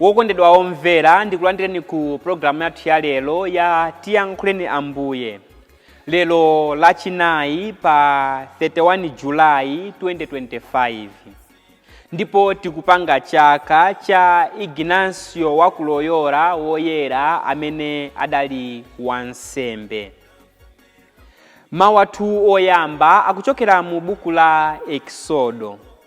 wokondedwa omvera ndikulandireni ku pulogalamu yathu ya lero ya tiyankhuleni ambuye lero lachinayi pa 31 julayi 2025 ndipo tikupanga chaka cha ignasio wa ku loyola woyera amene adali wansembe mawu athu oyamba akuchokera mu buku la eksodo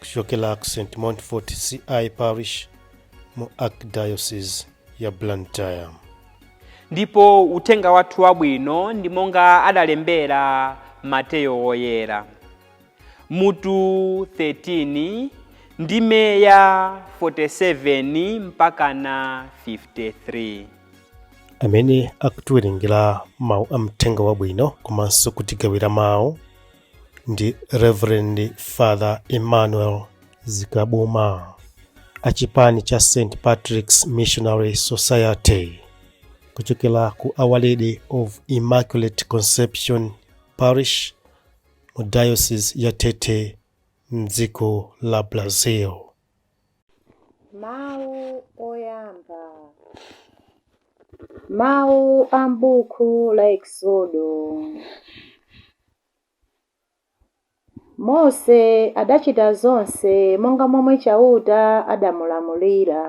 kuchokera ku st montfort ci parish mu archdiocese ya blantyre ndipo uthenga wathu wabwino ndi monga adalembera mateyo woyera mutu 13 ndime ya 47 mpaka na 53 amene akutiwerengera mawu a mthenga wabwino komanso kutigawira mawu ndi Reverend Father Emmanuel Zikabuma a chipani cha St Patrick's Missionary Society kuchokera ku Our Lady of Immaculate Conception Parish mu Diocese ya Tete mdziko la Brazil. Mawu oyamba. Mawu a m'buku la Eksodo. Mose adachita zonse monga momwe Chauta adamulamulira.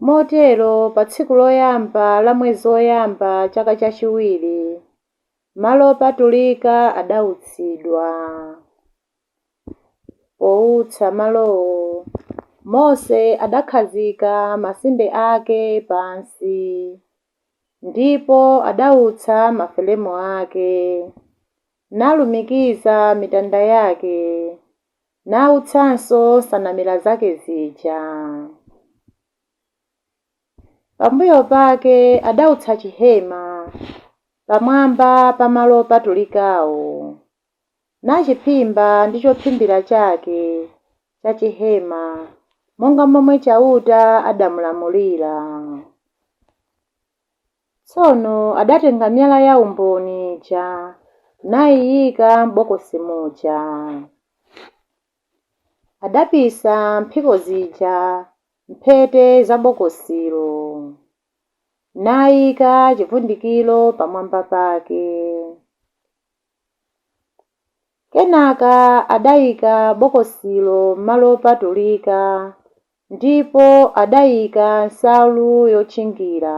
Motero pa tsiku loyamba la mwezi woyamba chaka chachiwiri, malo opatulika adautsidwa. Poutsa malowo, Mose adakhazika masinde ake pansi, ndipo adautsa mafelemu ake, nalumikiza mitanda yake, nautsanso nsanamira zake zija. Pambuyo pake adautsa chihema pamwamba pa malo opatulikawo. nachiphimba ndi chophimbira chake cha chihema, monga momwe Chauta adamulamulira. Tsono adatenga miyala yaumboni ija, naiika m'bokosi muja. Adapisa mphiko zija m'mphete za bokosilo, naika chivundikiro pamwamba pake. Kenaka adayika bokosilo m'malo opatulika ndipo adayika nsalu yotchingira.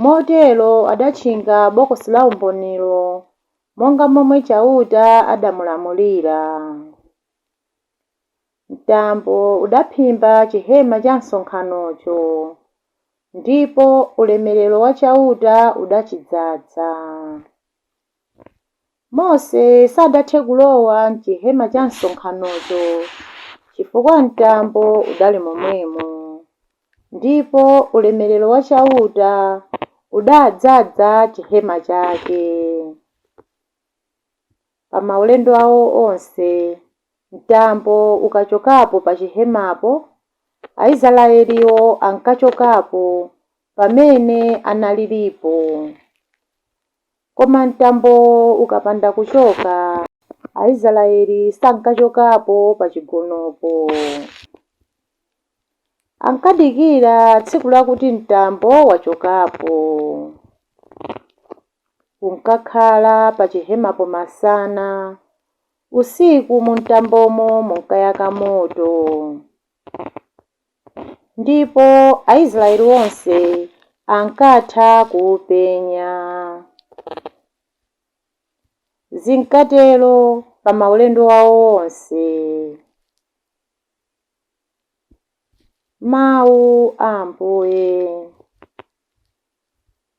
Motero adatchinga Bokosi la Umbonilo monga momwe Chauta adamulamulira. Mtambo udaphimba chihema cha msonkhanocho, ndipo ulemerero wa Chauta udachidzadza. Mose sadathe kulowa m'chihema cha msonkhanocho, chifukwa mtambo udali momwemo, ndipo ulemerero wa Chauta udadzadza chihema chake. pa maulendo awo onse. Mtambo ukachokapo pa chihemapo, Aisraeliwo ankachokapo pamene analilipo. Koma mtambo ukapanda kuchoka, Aisraeli sankachokapo pa chigonopo. Ankadikira tsiku lakuti mtambo wachokapo. Unkakhala pachihemapo masana, usiku mumtambomo munkayaka moto. Ndipo Aisraeli onse ankatha kuupenya. Zinkatero pa maulendo awo onse. Mawu a Ambuye.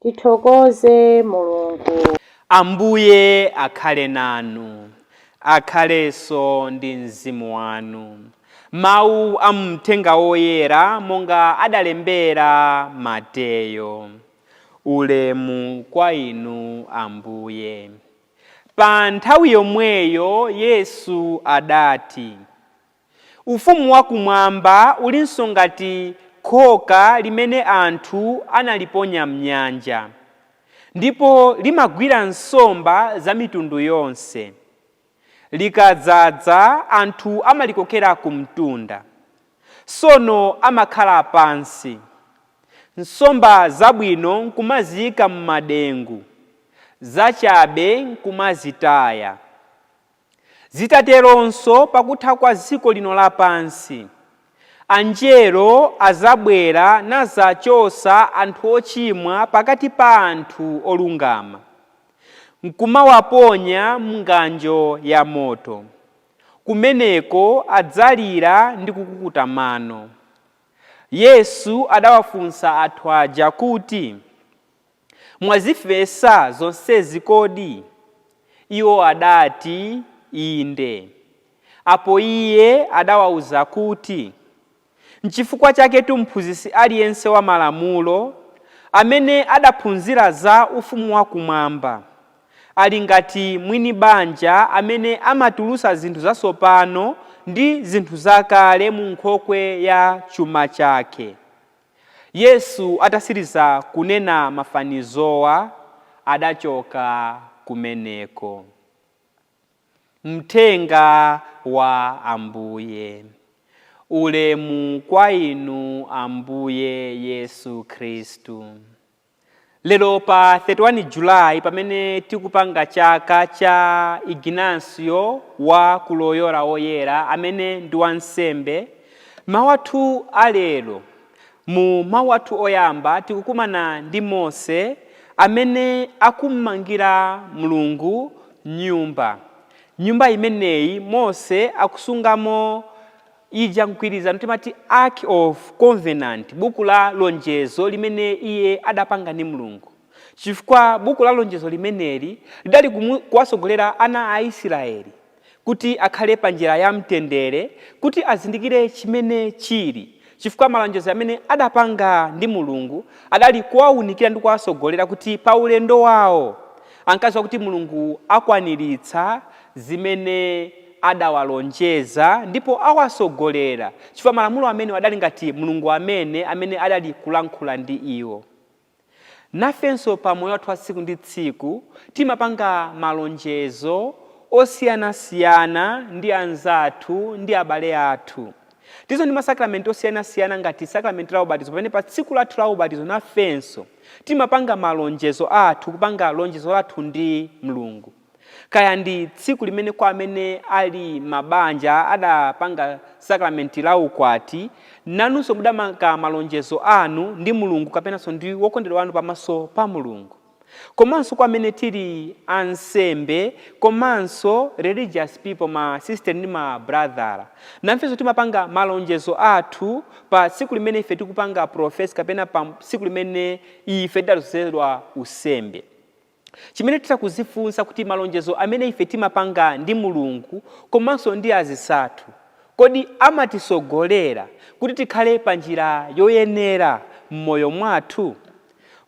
Tithokoze Mulungu. Ambuye akhale nanu. Akhalenso ndi mzimu wanu. Mawu a mumthenga woyera monga adalembera Mateyo. Ulemu kwa Inu Ambuye. Pa nthawi yomweyo Yesu adati. Ufumu wa Kumwamba ulinso ngati khoka limene anthu analiponya m'nyanja, ndipo limagwira nsomba za mitundu yonse. Likadzadza, anthu amalikokera ku mtunda. Tsono amakhala pansi, nsomba zabwino nkumaziika m'madengu, zachabe nkumazitaya. Zidzateronso, pa kutha kwa dziko lino lapansi, Anjelo adzabwera nadzachotsa anthu ochimwa pakati pa anthu olungama, nkumawaponya m'ng'anjo ya moto. Kumeneko adzalira ndi kukukuta mano. Yesu adawafunsa anthu aja kuti. Mwazimvetsa zonsezi kodi? Iwo adati, Inde. Apo Iye adawauza kuti, Nchifukwa chaketu mphunzitsi aliyense wa Malamulo, amene adaphunzira za Ufumu wakumwamba, ali ngati mwini banja amene amatulutsa zinthu zatsopano ndi zinthu zakale mu nkhokwe ya chuma chake. Yesu atatsiriza kunena mafanizowa adachoka kumeneko. Mthenga wa Ambuye. Ulemu kwa Inu Ambuye Yesu Khristu. Lero pa 31 July pamene tikupanga chaka cha Ignasio wa ku Loyola Woyera amene ndi wansembe, mawu athu a lero, mu mawu athu oyamba tikukumana ndi Mose amene akummangira Mulungu nyumba. Nyumba imeneyi Mose akusungamo ija, mgwirizano, timati, Ark of Covenant, buku la lonjezo limene iye adapanga ndi Mulungu, chifukwa buku la lonjezo limeneli lidali kumu, kuwatsogolera ana a Israeli kuti akhale pa njira ya mtendere, kuti azindikire chimene chili, chifukwa malonjezo amene adapanga ndi Mulungu adali kuwaunikira ndi kuwatsogolera kuti pa ulendo wawo ankadziwa kuti Mulungu akwaniritsa zimene adawalonjeza ndipo awatsogolera, chifukwa malamulo amene adali ngati Mulungu amene amene adali kulankhula ndi iwo. Nafenso pa moyo wathu wa tsiku ndi tsiku timapanga malonjezo osiyanasiyana ndi anzathu ndi abale athu. Tilinso ndi masakramenti osiyanasiyana ngati sakramenti la ubatizo pamene pa tsiku lathu la ubatizo nafenso timapanga malonjezo athu, kupanga lonjezo lathu ndi Mulungu. Kaya ndi tsiku limene kwa amene ali mabanja adapanga sakramenti la ukwati, nanunso mudamanga malonjezo anu ndi Mulungu kapenanso ndi wokondedwa wanu pamaso pa Mulungu. Komanso kwa amene tili ansembe komanso religious people ma sister ndi ma brother, nafenso timapanga malonjezo athu pa tsiku limene ife tikupanga profess kapena pa tsiku limene ife tidadzozedwa unsembe. Chimene titha kudzifunsa kuti malonjezo amene ife timapanga ndi Mulungu komanso ndi azinzathu, kodi amatitsogolera kuti tikhale pa njira yoyenera m'moyo mwathu?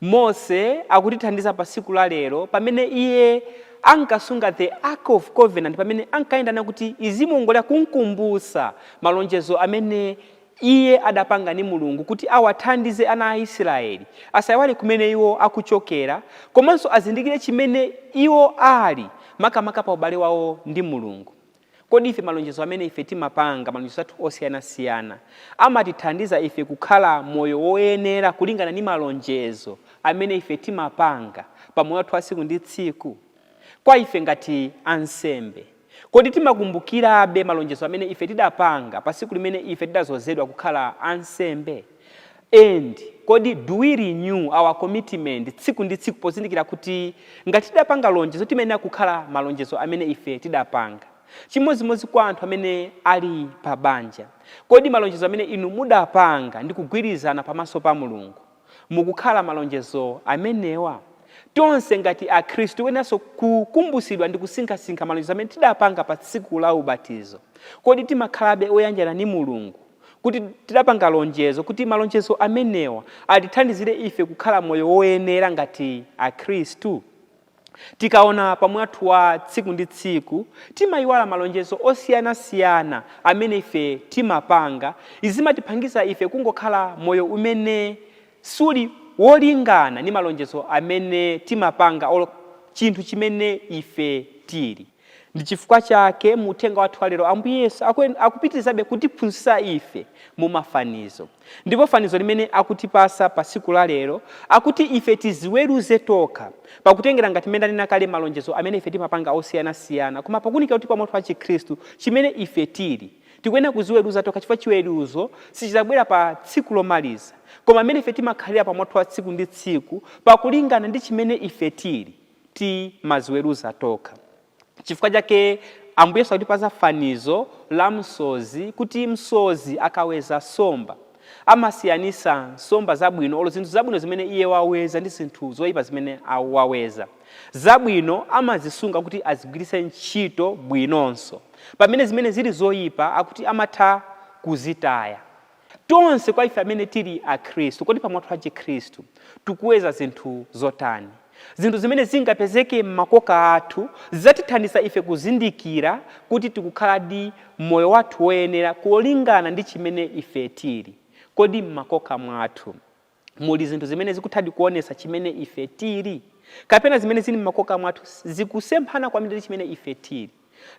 Mose akutithandiza pa tsiku la lero pamene iye ankasunga the Ark of Covenant pamene ankayenda nayo kuti izimuongolera kumkumbutsa malonjezo amene Iye adapanga ndi Mulungu kuti awathandize ana a Israeli asaiwale kumene iwo akuchokera komanso azindikire chimene iwo ali makamaka pa ubale wawo ndi Mulungu. Kodi ife malonjezo amene ife timapanga, malonjezo athu osiyanasiyana, amatithandiza ife kukhala moyo woyenera kulingana ndi malonjezo amene ife timapanga pa moyo wathu wa tsiku ndi tsiku? Kwa ife ngati ansembe. Kodi timakumbukirabe malonjezo amene ife tidapanga pa tsiku limene ife tidadzozedwa kukhala ansembe? And kodi do we renew our commitment tsiku ndi tsiku pozindikira kuti ngati tidapanga lonjezo timayenera kukhala malonjezo amene ife tidapanga? Chimodzimodzi kwa anthu amene ali pa banja. Kodi malonjezo amene inu mudapanga ndi kugwirizana pamaso pa Mulungu? mukukhala malonjezo amenewa? Tonse ngati akhristu tikuyeneranso kukumbutsidwa ndi kusinkhasinkha malonjezo amene tidapanga pa tsiku la ubatizo. Kodi timakhalabe oyanjana ndi Mulungu kuti tidapanga lonjezo kuti malonjezo amenewa atithandizire ife kukhala moyo woyenera ngati akhristu? Tikaona pa moyo wathu wa tsiku ndi tsiku timayiwala malonjezo osiyana siyana amene ife timapanga, izi zimatipangisa ife kungokhala moyo umene suli wolingana ndi malonjezo amene timapanga olo chinthu chimene ife tili. Ndi chifukwa chake mu uthenga wathu wa lero, Ambuye Yesu akuen, akupitirizabe kutiphunzitsa ife mu mafanizo. Ndipo fanizo limene akutipasa pa tsiku la lero, akuti ife tiziweruze tokha, pakutengera ngati mmene ndanena kale malonjezo amene ife timapanga osiyana siyana, koma pakunikira kuti pa moyo wathu wa Chikhristu, chimene ife tiri. Tikuyenera kuziweruza tokha chifukwa chiweruzo sichizabwera pa tsiku lomaliza, koma mmene ife timakhalira pa moyo wathu wa tsiku ndi tsiku pakulingana ndi chimene ife tiri. timaziweruza tokha. Chifukwa chake Ambuye Yesu akutipatsa fanizo la msozi kuti msozi akaweza somba, amasiyanisa nsomba zabwino olo zinthu zabwino zimene iye waweza ndi zinthu zoyipa zimene waweza. Zabwino amazisunga kuti azigwiritse ntchito bwinonso. Pamene zimene zili zoyipa akuti amatha kuzitaya. Tonse kwa ife amene tili Akhristu, kodi pa moyo wathu wa Chikhristu tikuweza zinthu zotani? Zinthu zimene zingapezeke m'makoka athu zidzatithandiza ife kuzindikira kuti tikukhaladi moyo wathu woyenera kulingana ndi chimene ife tili. Kodi m'makoka mwathu. muli zinthu zimene zikuthadi kuonetsa chimene ife tiri kapena zimene zili m'makoka mwathu zikusemphana kwambiri ndi chimene ife tiri,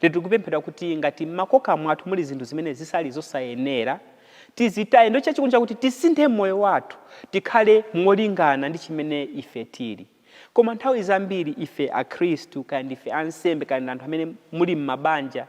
lero tikupemphedwa kuti ngati m'makoka mwathu muli zinthu zimene zisali zosayenera, tizitaye. Ndiye chachikulu chakuti tisinthe moyo wathu tikhale molingana ndi chimene ife tiri. Koma nthawi zambiri ife Akhristu, kaya ndife ansembe kaya anthu amene muli m'mabanja,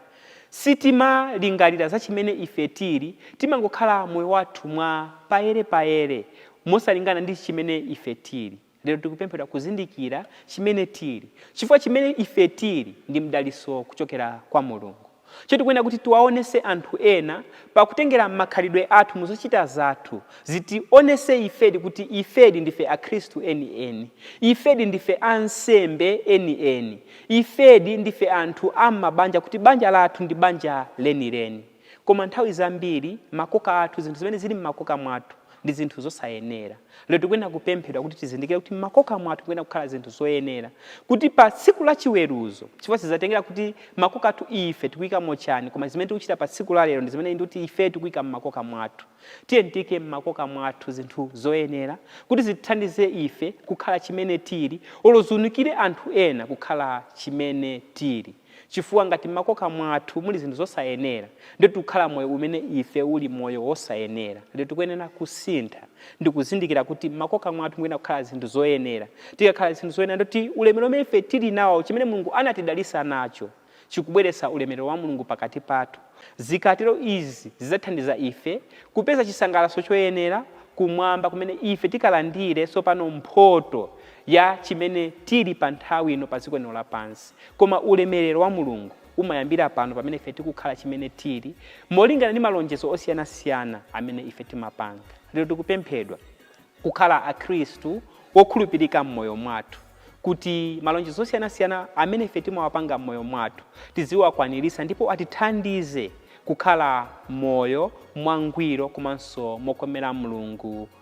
sitimalingalira za chimene ife tiri, timangokhala moyo wathu mwa payere payere, mosalingana ndi chimene ife tiri. Lero tikupemphedwa kuzindikira chimene tiri, chifukwa chimene ife tiri ndi mdalitso kuchokera kwa Mulungu. Choncho tikuyenera kuti tiwaonetse anthu ena pakutengera makhalidwe athu muzochita zathu, zitionetse ifedi kuti ifedi ndife akhristu eni eni, ifedi ndife ansembe eni eni, ifedi ndife anthu am'mabanja kuti banja lathu ndi banja leni leni. Koma nthawi zambiri makoka athu, zinthu zimene zili m'makoka mwathu, ndi zinthu zosayenera. Lero tikuyenera kupemphedwa kuti tizindikire kuti m'makoka mwathu tikuyenera kukhala zinthu zoyenera, kuti pa tsiku la chiweruzo, chifukwa sizatengera kuti makoka athu ife tikuyikamo chani, koma zimene tikuchita pa tsiku la lero ndi zimene ndi kuti ife tikuyika m'makoka mwathu. Tiyeni tiyike m'makoka mwathu zinthu zoyenera kuti zitithandize ife kukhala chimene tili, olo ziunikire anthu ena kukhala chimene tili. Chifukwa, ngati mmakoka mwathu muli zinthu zosayenera, ndiye tikukhala moyo umene ife uli moyo wosayenera. Lero tikuyenera kusintha, ndi kuzindikira kuti mmakoka mwathu mukuyenera kukhala zinthu zoyenera. Tikakhala zinthu zoyenera, ndiye kuti ulemerero umene ife tiri nawo, chimene Mulungu anatidalitsa nacho, chikubweretsa ulemerero wa Mulungu pakati pathu. Zikatero izi zidzathandiza ife kupeza chisangalalo choyenera Kumwamba, kumene ife tikalandire tsopano mphoto ya chimene tiri pa nthawi ino pa dziko lino lapansi. Koma ulemelero wa Mulungu umayambira pano pamene ife tikukhala chimene tiri, molingana ndi malonjezo osiyanasiyana amene ife timapanga. Lero tikupemphedwa kukhala Akhristu okhulupirika m'moyo mwathu, kuti malonjezo osiyanasiyana amene ife timawapanga m'moyo mwathu tiziwakwaniritsa ndipo atithandize kukhala moyo mwangwiro komanso mokomera Mulungu